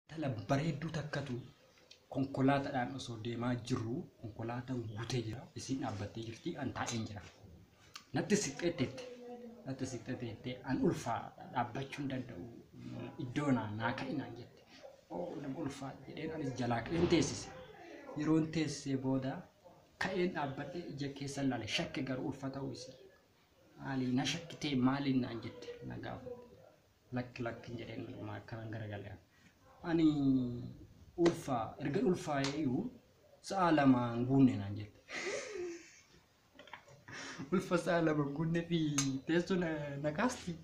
Intala bareedduu takkatu konkolaataadhaan osoo deemaa jirru konkolaataan guutee jira. Isiin dhaabbattee jirti. An taa'een jira. Natti siqxee teette. Natti siqxee teette. An ulfaa dhaabbachuu hin danda'u. Iddoo naa naa ka'i naan jette. Oo nama ulfaa jedheen anis jalaa ka'een teessise. Yeroon teessee booda ka'een dhaabbadhee ija keessa ilaale. Shakke garuu ulfa ta'uu isii. Maali na shakkitee maaliin naan jette na gaafatte. Lakki lakki hin jedheen dhugumaa akkanan garagale an. Ani ulfaa ergan ulfaa'ee iyyuu sa'a lama hin guunne naan jette. Ulfa sa'a lama hin guunne fi teessoo na, na kaasti.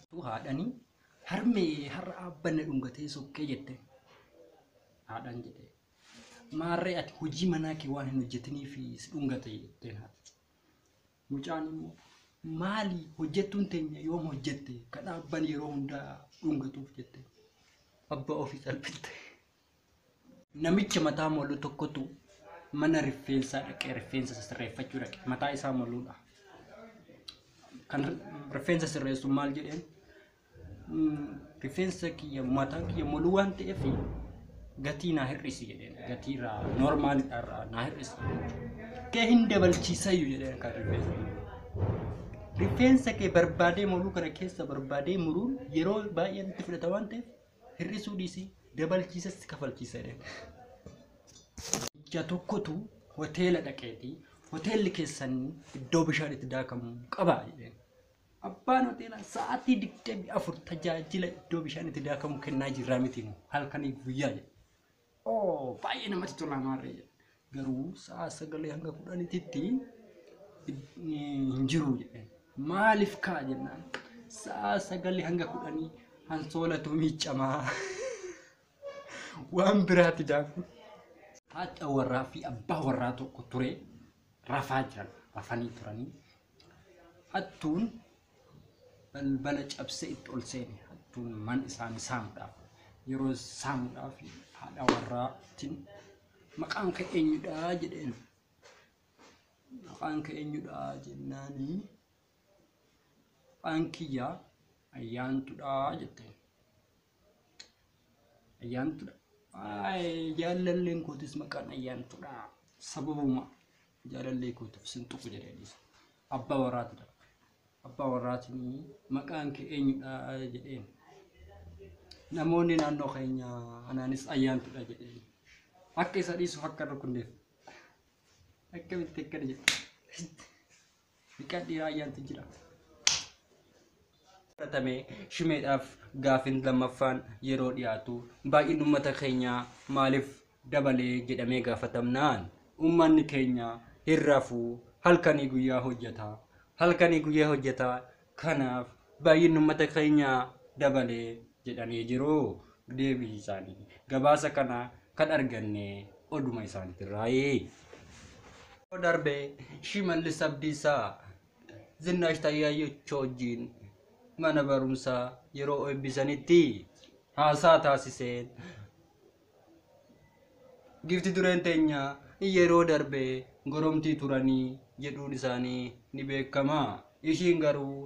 Tu haadhani harmee har'a abban na dhungatee sokkee jette. Haadhan jedhe. Maarree ati hojii manaa kee waan hin hojjetinii fi si dhungate jetteen haati. Mucaan immoo maali hojjettuun teenya yoom hojjette ka dhaabban yeroo hundaa dhungatuuf jette abbaa ofii salphifte. Namicha mataa molu tokkotu mana rifeensaa dhaqee rifeensa isa sirreeffachuu dhaqe. Mataa isaa moluudha. Kan rifeensa sirreessu maal jedheen? rifeensa kiyya mataan kiyya moluu waan ta'eef gatii naa hir'isi jedheen gatii irraa normaal irraa naa hir'isi kee hin dabalchiisayyu jedheen kan rifeensa rifeensa kee barbaadee moluu kana keessa barbaadee muruun yeroo baay'ee itti fudhata waan ta'eef hir'isuu dhiisii dabalchiisas kafalchiisa jedheen. Ija tokkotu hoteela dhaqeeti hoteelli keessan iddoo bishaan itti daakamu qaba jedheen. Abbaan hoteelaa sa'aatii 24 tajaajila iddoo bishaan itti daakamu kennaa jirraa miti moo halkanii guyyaa jedha. Oo baay'ee namatti tola maarree jedha. Garuu sa'a sagalee hanga kudhaniititti hin jiru jedhe. Maaliif kaa jennaan sa'a sagalee hanga kudhanii hansoolatu miiccamaa waan biraati daaku. Haadha warraa fi abbaa warraa tokko ture rafaa jiran rafanii turanii Hattuun balbala cabsee itti ol seene. Hattuun mana isaanii saamuudhaaf yeroo saamuudhaaf haadha warraatiin maqaan kee eenyudhaa jedheen. Maqaan kee eenyudhaa jennaanii maqaan kiyyaa ayyaantudhaa jetteen. Ayyaantudha. Ay, jaalalleen kootis maqaan ayyaantudha. Sababuma jaalallee kootiif sin tuqu jedhee dhiisa. Abbaa warraati dha. Abbaa warraatiin maqaan kee eenyudha jedheen. Namoonni naannoo keenya anaanis ayyaantudha jedheen. Akka isa dhiisuuf akka rukunneef. Akkamitti akkana jedhe. Dhiqadhii raayyaanti jira. fudhatame shimeedhaaf gaafin lammaffaan yeroo dhiyaatu baay'inni uummata keenyaa maaliif dabalee jedhamee gaafatamnaan uummanni keenya hin rafuu halkanii guyyaa hojjetaa halkanii guyyaa hojjetaa Kanaaf baay'inni ummata keenyaa dabale jedhanii jiru deebii isaanii. Gabaasa kana kan arganne oduma isaaniitirraayi. Yeroo darbe Shimallis Abdiisaa Zinnaash Taayyaayyochoo wajjin mana barumsaa yeroo eebbisanitti haasaa taasiseen Giifti dureen teenya yeroo darbe goromtii turanii jedhuun isaanii ni beekama. Ishiin garuu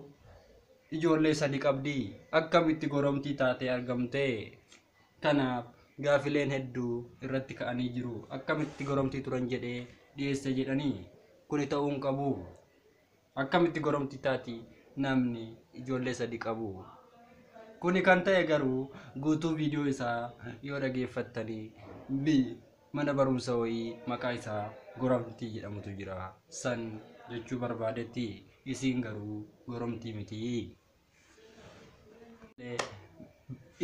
ijoollee sadi qabdi. Akkamitti goromtii taatee argamte? Kanaaf gaafileen hedduu irratti ka'anii jiru. Akkamitti goromtii turan jedhee dhiyeesse jedhanii kuni ta'uun qabu. Akkamitti goromti taati namni ijoollee sadi qabu? Kuni kan ta'e garuu guutuu viidiyoo isaa yoo dhageeffattanii bi mana barumsa wayii maqaa isaa goromtii jedhamutu jira san jechuu barbaadetti isiin garuu goromtii mitii.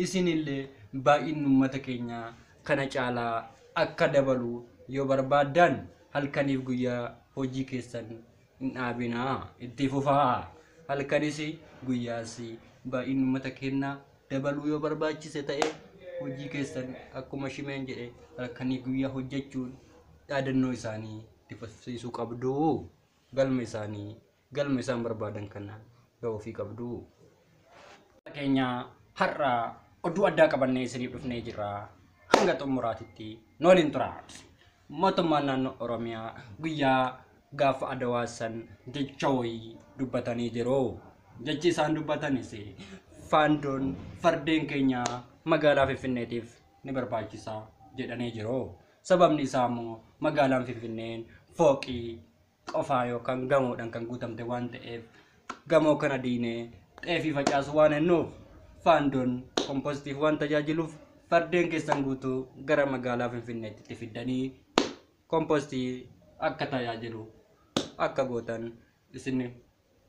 isinillee baay'inni uummata keenyaa kana caalaa akka dabalu yoo barbaaddan halkaniif guyyaa hojii keessan hin dhaabinaa itti fufaa halkanis guyyaas baay'inni uummata keenyaa dabaluu yoo barbaachise ta'e hojii keessan akkuma shimeen jedhe halkanii guyyaa hojjechuun dhaadannoo isaanii itti fufsiisuu qabdu galma isaanii Galma isaan barbaadan kana gahuufii qabdu. keenya har'a oduu addaa qabannee isiniif dhufnee jirra. Hanga xumuraatitti nu waliin turaa. Mootummaan naannoo Oromiyaa guyyaa gaafa Adawaa san jecha wayii dubbatanii jiru. Jechi isaan dubbatanis faandoon fardeen keenya magaalaa Finfinneetiif ni barbaachisa jedhanii jiru. Sababni isaa immoo magaalaan Finfinneen fooqii qofaa yookaan gamoodhaan kan guutamte waan ta'eef gamoo kana diinee xeefii facaasuu waan hennuuf faandoon kompostiif waan tajaajiluuf fardeen keessan guutuu gara magaalaa Finfinneetti itti fiddanii kompostii akka tajaajilu akka gootan isin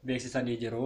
beeksisanii jiru.